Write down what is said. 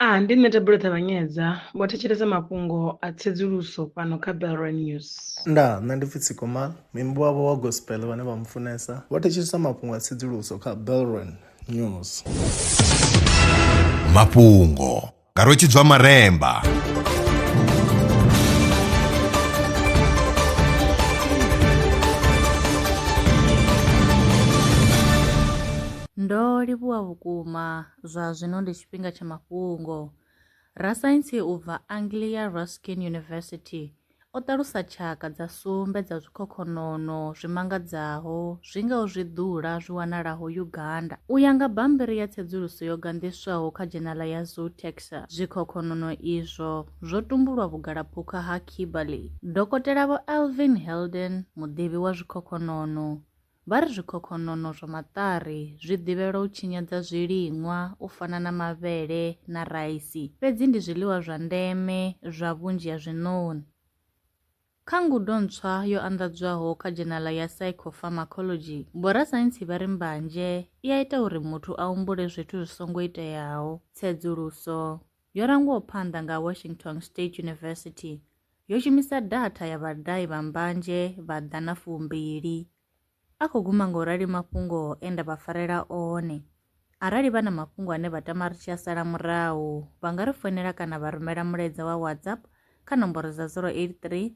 A, Ndi nṋe Thabelo Ṱavhanyedza, vho thetshelesa mafhungo a tsedzuluso fhano kha Belrand News. Nda, Nṋe ndi Fitzy Komal, muimbi wavho wa gospel vhane vha mufunesa, vho thetshelesa mafhungo a tsedzuluso kha Belrand News. Mafhungo nga Rwetshidzwa Maremba. Ndo livhuwa vhukuma Zwa zwino ndi tshifhinga tsha mafhungo. Rasaintsi u bva Anglia Ruskin University o ṱalusa tshaka dza sumbe dza zwikhokhonono zwi mangadzaho zwi ngaho zwiḓula zwi wanalaho Uganda. U ya nga bammbiri ya tsedzuluso yo ganḓiswaho kha dzhenala ya Zootaxa, zwikhokhonono izwo zwo tumbulwa vhugalaphukha ha Kimberley. Dokotela Vho Alvin Helden, muḓivhi wa zwikhokhonono, Vha ri zwikhokhonono zwa maṱari zwi ḓivhelwa u tshinyadza zwiliṅwa u fana na mavhele na raisi, fhedzi ndi zwiḽiwa zwa ndeme zwa vhunzhi ha zwiṋoni. Kha ngudo ntswa yo anḓadzwaho kha dzhenala ya Psychopharmacology, vhorasaintsi vha ri mbanzhe i a ita uri muthu a humbule zwithu zwi songo iteaho. Tsedzuluso. yo rangwaho phanḓa nga Washington State University yo shumisa datha ya vhadahi vha mbanzhe vha ḓana fumbili. A khou guma nga u rali mafhungo e nda vha farela one. Arali vha na mafhungo ane vha tama ri tshi a sala murahu, vha nga ri founela kana vha rumela mulaedza wa WhatsApp kha nomboro dza 083